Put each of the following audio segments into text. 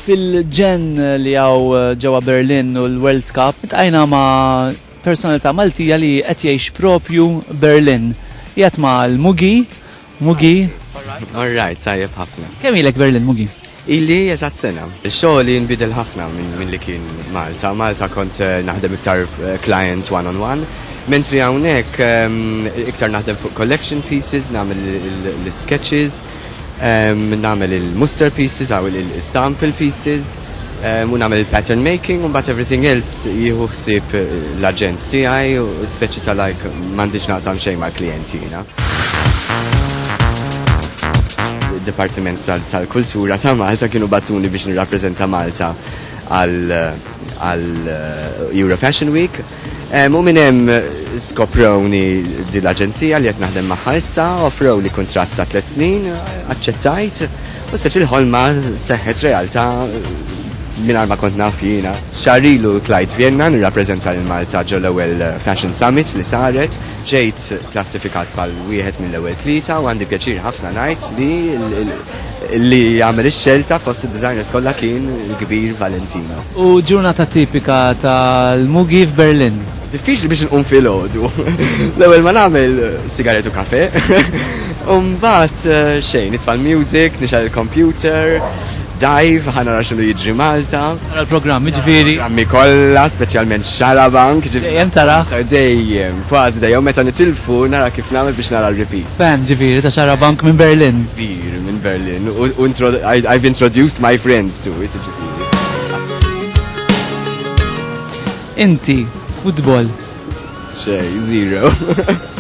fil-ġen li għaw eh, ġewa Berlin u l-World Cup, tajna ma' personalità Maltija li qed jgħix propju Berlin. Jgħat ma' l-Mugi Mugi. All right, tajjeb ħafna. Kemm ilek Berlin, Mugi? Ili eżat sena. Xogħli nbidel ħafna minn li kien Malta. Malta kont eh, naħdem iktar eh, client one on one. Mentri hawnhekk ehm, iktar naħdem fuq collection pieces, nagħmel l-sketches, ehm, nagħmel il-muster pieces, għaw il-sample pieces. u nagħmel il-pattern making u mbagħad everything else jieħu ħsieb l-aġent tiegħi u speċi ta' like m'għandix naqsam xejn mal-klijenti jiena. Id-Dipartiment tal-Kultura ta' Malta kienu bagħtuni biex nirrappreżenta Malta għal Eurofashion Week. Hemm u minn hemm skoprewni din l-aġenzija li qed naħdem magħha issa, offrew li kuntratt ta' tliet snin, aċċettajt, u speċi l-ħolma seħħet realtà mingħajr ma kont naf jiena. Xahar ilu tlajt Vjenna nirrappreżenta lil Malta ġol-ewwel Fashion Summit li saret, ġejt klassifikat bħal wieħed mill-ewwel tlieta u għandi pjaċir ħafna ngħid li li għamel ix-xelta fost id-designers kollha kien il-kbir Valentino. U ġurnata tipika tal-Mugi f'Berlin? Diffiċli biex nqum filgħodu. L-ewwel ma nagħmel sigaret u kafe. U mbagħad eh, xejn, nitfa' l-music, nixgħel il-computer, dive, ħa nara x'inhu jiġri Malta. Tara l-programm, jiġifieri. Grammi kollha, speċjalment xarabank. Dejjem tara? Dejjem. Kważi dejjem meta nitilfu nara kif nagħmel biex nara r-repeat. Fan ġifieri ta' Xarabank minn Berlin. Kbir minn Berlin u I've introduced my friends to it jiġifieri. Inti, futbol? Xejn, zero.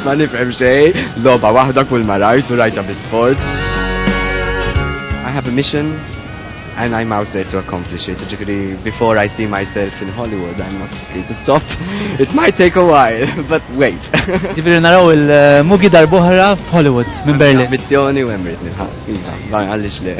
Ma nifhem xejn, logħba waħda kull ma rajt u rajtha bi sport. I have a mission. And I'm out there to accomplish it. Ġifiri, before I see myself in Hollywood, I'm not free to stop. It might take a while, but wait. Ġifiri, naraw il-mugi darbohra f'Hollywood, minn Berlin. Ambizzjoni u emrit nilħa. Iva, barra għallix le.